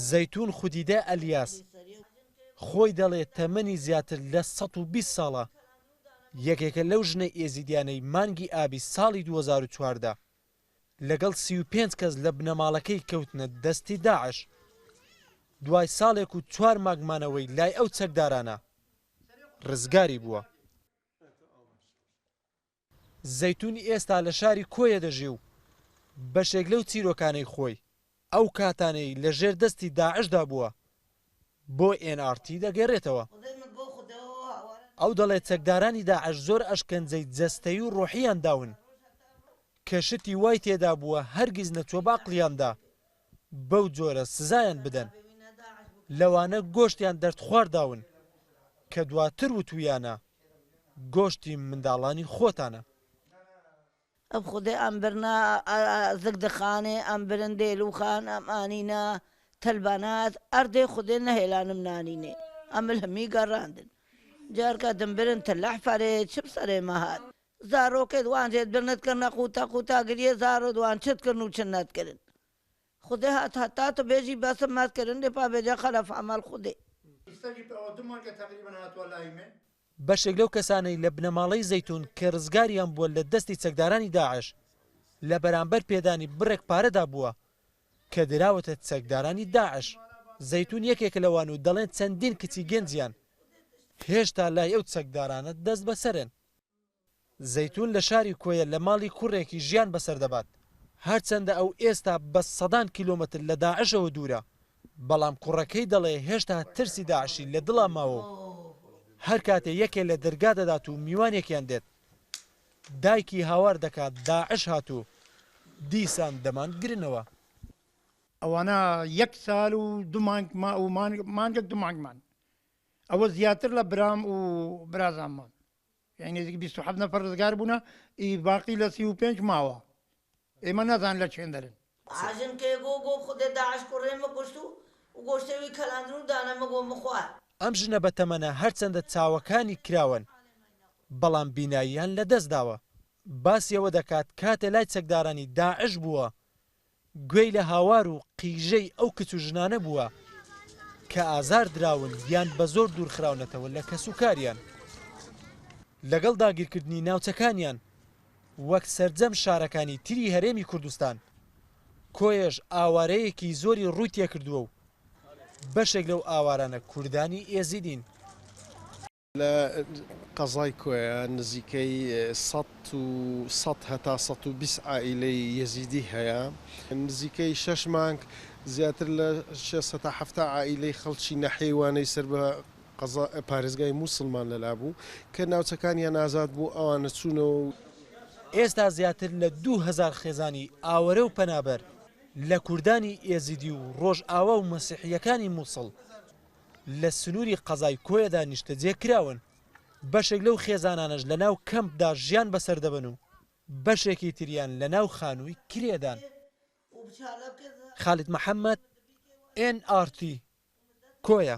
زەیتوون خودیدە ئەلیاس، خۆی دەڵێت تەمەنی زیاتر لە سەد و بیست ساڵە، یەکێکە لەو ژنە ئێزیدیانەی مانگی ئابی ساڵی دوو هەزار و چواردە لەگەڵ سی و پێنج کەس لە بنەماڵەکەی کەوتنە دەستی داعش، دوای ساڵێک و چوار مانگ مانەوەی لای ئەو چەکدارانە، رزگاری بووە. زەیتون ئێستا لە شاری کۆیە دەژی و بەشێک لەو چیرۆکانەی خۆی ئەو کاتانەی لە ژێر دەستی داعشدا بووە بۆ ئێن ئاڕ تی دەگێڕێتەوە. ئەو دەڵێت چەکدارانی داعش زۆر ئەشکەنجەی جەستەیی و ڕۆحییان داون کە شتی وای تێدا بووە هەرگیز نەچووە بە عەقڵیاندا بەو جۆرە سزایان بدەن لەوانە گۆشتیان دەرد خوارداون کە دواتر وتویانە گۆشتی منداڵانی خۆتانە. ئەم خودێ ئەم برنا ئە زگ دخانێ ئەم برن دێلو خان ئەم ئانینا تەل بانات ئەر دێ خودێ نەهێلانم نانینێ ئە مل همی گە راندن جار کە دم برن تە لە حفەرێ چم سەرێ مە هات زارۆکت وان ژێت برنت کردنە قوتە قوتە گریێ زارت وان چت کردن و چت نەت کردن خودێ هات هەتا تو بێژی بەسم مەت کردن دێ پا بێجە خەلەف ئەمەل خودێ. ئیستا جی پئ دو مانگە تەقریبەن هاتوە لای من. بەشێک لەو کەسانەی لە بنەماڵەی زەیتون کە رزگاریان بووە لە دەستی چەکدارانی داعش لە بەرامبەر پێدانی بڕێک پارەدا بووە کە دراوەتە چەکدارانی داعش. زەیتون یەکێکە لەوان و دەڵێن چەندین کچی گەنجیان هێشتا لای ئەو چەکدارانە دەستبەسەرن. زەیتون لە شاری کۆیە لە ماڵی کوڕێکی ژیان بەسەر دەبات، هەرچەندە ئەو ئێستا بە سەدان کیلۆمەتر لە داعشەوە دوورە، بەڵام کوڕەکەی دەڵێ هێشتا ترسی داعشی لە دڵا ماوە و هەر کاتێ یەکێ لە دەرگا دەدات و میوانێکیان دێت دایکی هاوار دەکا داعش هات و دیسان دەمان گرنەوە. ئەوانە یەک سال و دو مانگ و مانگێک دو مانگمان ئەوە زیاتر لە برام و برازانمان یعنی نزیک 27 نەفەر ڕزگار بوونە ئی باقی لە 35 ماوە ئێمە نازان لە چێن دەرن. باجم کێ گۆ گۆ خودێ داعش کوڕێ مکوشت و و گۆشتێ وی کەلاندن و دانە مگۆ مخوار. ئەم ژنە بەتەمەنە هەرچەندە چاوەکانی کراوەن بەڵام بیناییان لەدەستداوە، باسی ئەوە دەکات کاتێ لای چەکدارانی داعش بووە گوێی لە هاوار و قیژەی ئەو کچ و ژنانە بووە کە ئازار دراون یان بە زۆر دوور خراونەتەوە لە کەس و کاریان. لەگەڵ داگیرکردنی ناوچەکانیان وەک سەرجەم شارەکانی تری هەرێمی کوردستان، کۆیەش ئاوارەیەکی زۆری ڕووی تێکردووە و بەشێک لەو ئاوارانە کوردانی ئێزیدین. لە قەزای کۆیە نزیکەی سەد و سەد هەتا سەد و بیست عائیلەی یەزیدی هەیە. نزیکەی شەش مانگ زیاتر لە شێست هەتا حەفتا عائیلەی خەڵکی ناحیەی وانەی سەر بە قەزا پارێزگای مووسڵمان لەلا بوو، کە ناوچەکانیان ئازاد بوو، ئەوانە چوونەوە و. ئێستا زیاتر لە دوو هەزار خێزانی ئاوەرە و پەنابەر لە کوردانی ئێزیدی و ڕۆژئاوا و مەسیحییەکانی مووسڵ لە سنووری قەزای کۆیەدا نیشتەجێ کراون، بەشێک لەو خێزانانەش لەناو کەمپدا ژیان بەسەر دەبەن و بەشێکی تریان لەناو خانووی کرێدان. خالید محەمەد، ئێن ئاڕ تی، کۆیە.